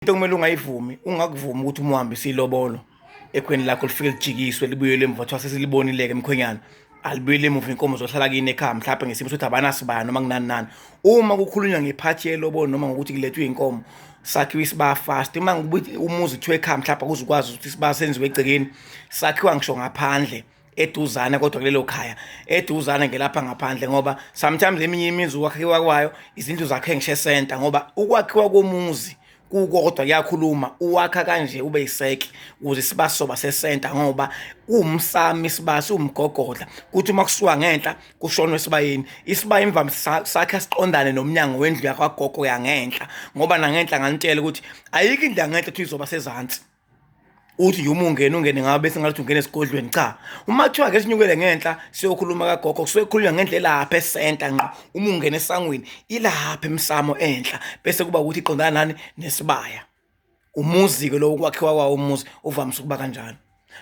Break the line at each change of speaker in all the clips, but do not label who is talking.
into kumele ungayivumi ungakuvumi ukuthi umuhambe silobolo ekhweni lakho lifike lijikiswe libuyele emva kuthiwa sesilibonileke emkhwenyana alibuyele emuva inkomo zohlala kini ekhaya mhlawumbe ngesimo sokuthi abanasibaya noma kunani nani uma kukhulunywa ngephathi yelobolo noma ngokuthi kulethwe inkomo sakhiwa isiba fast uma ngibuthi umuzi kuthiwa ekhaya mhlawumbe kuzukwazi ukuthi isiba senziwe egcekeni sakhiwa ngisho ngaphandle eduzane kodwa kulelo khaya eduzane ngelapha ngaphandle ngoba sometimes eminye imizi ukwakhiwa kwayo izindlu zakhe ngishe center ngoba ukwakhiwa komuzi kukodwa kuyakhuluma uwakha kanje ube yiseke ukuze sibasoba sesenta ngoba umsami isibasi umgogodla kuthi uma kusuka ngenhla kushonwe esibayeni isibayi imvama sakhe siqondane nomnyango wendlu yakwagogo yangenhla ngoba nangenhla nganitshela ukuthi ayikho indlu yangenhla ukuthi izoba sezansi uthi nje uma ungena ungene ngabe bese ngathi ungena esigodlweni cha uma kuthiwa ake sinyukele ngenhla siyokhuluma kagogo kusuke kukhulunywa ngenhla elapha esenta ngqo uma ungena esangweni ilapha emsamo enhla bese kuba ukuthi iqondana nani nesibaya umuzi-ke lowo ukwakhiwa kwawo umuzi uvamise ukuba kanjalo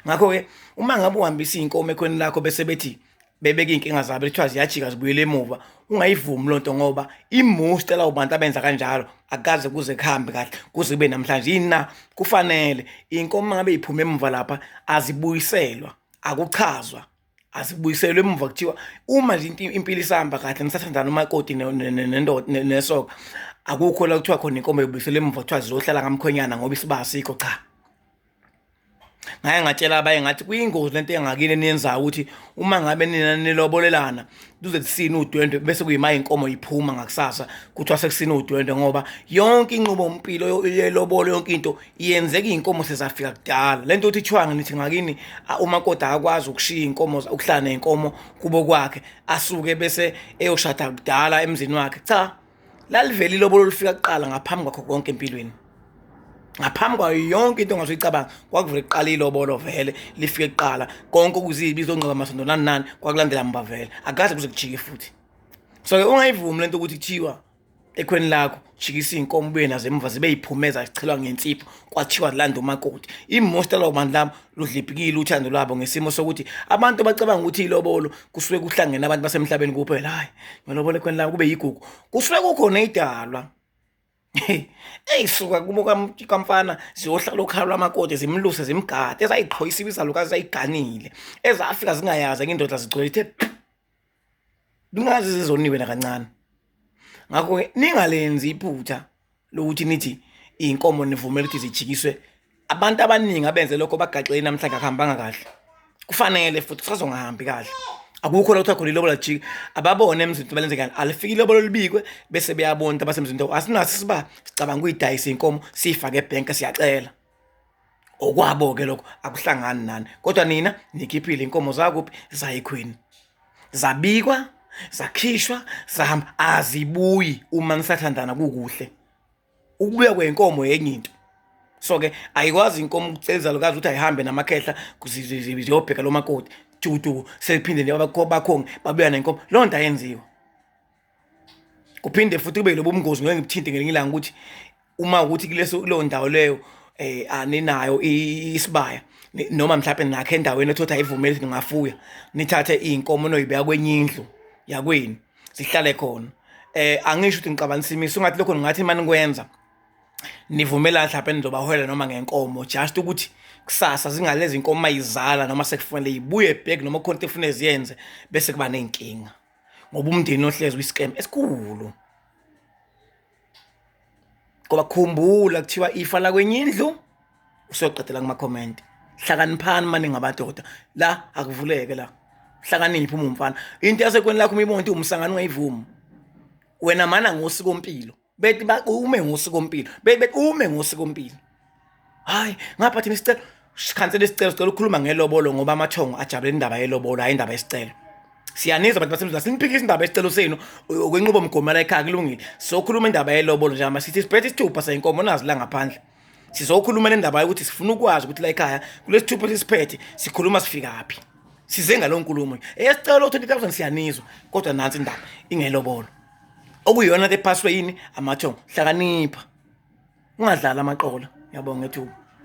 ngakho-ke uma ngabe uhambisa iy'nkomo ekhweni lakho bese bethi bebeke iy'nkinga zabo kuthiwa ziyajika zibuyele emuva ungayivumi loo nto ngoba imusta lawo bantu abenza kanjalo akukaze kuze kuhambe kahle kuze kube namhlanje yini na kufanele iy'nkomo uma ngabe iphume emuva lapha azibuyiselwa akuchazwa asibuyiselwe emuva kuthiwa uma nje impilo isihamba kahle nisathandana umakoti nesoka akukho la kuthiwa khona inkomo yobuyiselwe emuva kuthiwa zizohlala ngamkhwenyana ngoba isiba asikho cha ngaye ngatshela abanye ngathi kuyingozi lento engakini eniyenzayo ukuthi uma ngabe nina nilobolelana kuze kusine udwendwe bese kuyima inkomo iphuma ngakusasa kuthiwa sekusine udwendwe ngoba yonke inqubo mpilo yelobolo yonke into iyenzeka inkomo sezafika kudala lento uthi chwanga nithi ngakini uma kodwa akwazi ukushiya inkomo ukuhlana inkomo kubo kwakhe asuke bese eyoshada kudala emzini wakhe cha lalivele ilobolo olufika kuqala ngaphambi kwakho konke empilweni ngaphambi kwayo yonke into ongaze uyicabanga kwakuvele kuqala ilobolo vele lifike kuqala konke okuzibi izongcwaba masondo nani nani kwakulandela mba vele akaze kuze kujike futhi so-ke ungayivumi le nto ukuthi kuthiwa ekhweni lakho jikisa iy'nkomo ubuye nazo emuva zibe yiphumeza zichelwa ngensipho kwathiwa landa umakoti imosta lawo bantu labo ludliphikile uthando lwabo ngesimo sokuthi abantu bacabanga ukuthi ilobolo kusuke kuhlangene abantu basemhlabeni kuphela hayi ngelobolo ekhweni lami kube yigugu kusuke kukhona idalwa eyi suka kubo kamfana ziyohlala okhalwa amakoti zimluse zimgade ezayiqhoyisa ibizalukazi zayiganile ezafika zingayazi enye indoda zigcwele ithe kungazi zizoniwe nakancane ngakho ke ningalenzi iphutha lokuthi nithi inkomo nivumela ukuthi zijikiswe abantu abaningi abenze lokho bagaxele namhlanje akuhambanga kahle kufanele futhi kusazongahambi kahle akukho la kuthiwa khona ilobola jika ababone emzinto balenze kani alifike ilobolo libikwe bese beyabona abasemzinto asinaso isiba sicabanga ukuyidayisa inkomo siyifake ebhenka siyacela okwabo ke lokho akuhlangani nani kodwa nina nikhiphile inkomo zakuphi zayikhwini zabikwa zakhishwa zahamba azibuyi uma nisathandana kukuhle ukubuya kwenkomo yenye into so ke ayikwazi inkomo ukuceliza lokazi ukuthi ayihambe namakhehla ziyobheka lo makoti tutu sephinde bakhonge babuya nenkomo loo nto ayenziwa kuphinde futhi kube lobo mngozi ngeke ngikuthinte ngelinye ilanga ukuthi uma ukuthi kuleso kuleyo ndawo leyo eh aninayo isibaya noma mhlawumbe nakhe endaweni ethotha ivumeli ukuthi ningafuya nithathe iy'nkomo noyibeka kwenye indlu yakwenu zihlale khona eh angisho ukuthi ngiqabanisa imiso ungathi lokho ningathi imani kwenza nivumela mhlawumbe nizobaholela noma ngenkomo just ukuthi kusasa zingalezi nkomo mayizala noma sekufanele ibuye back noma khona into efuna ziyenze bese kuba nezinkinga ngoba umndeni ohlezi uyiscam esikhulu ngoba khumbula kuthiwa ifa la kwenye indlu usoqedela kuma comment hlakaniphani mani ngabadoda la akuvuleke la hlakaniphi uma umfana into yasekweni lakho uma ibona ukuthi umsangano ungayivumi wena mana ngosiko mpilo bethi ume ngosikompilo bethi ume ngosikompilo hayi ngapha thina isicelo sikhansela isicelo sicela ukukhuluma ngelobolo ngoba amathongo ajabule indaba yelobolo hayi indaba yesicelo siyanizwa bantu basemzini asiniphikisa indaba yesicelo senu okwenqubomgomo la ekhaya kulungile sokhuluma indaba yelobolo njengoba sithi siphethe isithupha sayinkomo nazi la ngaphandle sizokhuluma le ndaba yokuthi sifuna ukwazi ukuthi la ekhaya kulesithupha esisiphethe sikhuluma sifikaphi size ngalo nkulumo esicelo 20000 siyanizwa kodwa nansi indaba ingelobolo okuyiyona ke ephaswe yini amathongo hlakanipha ungadlali amaqola. Ngiyabonga ngethuba.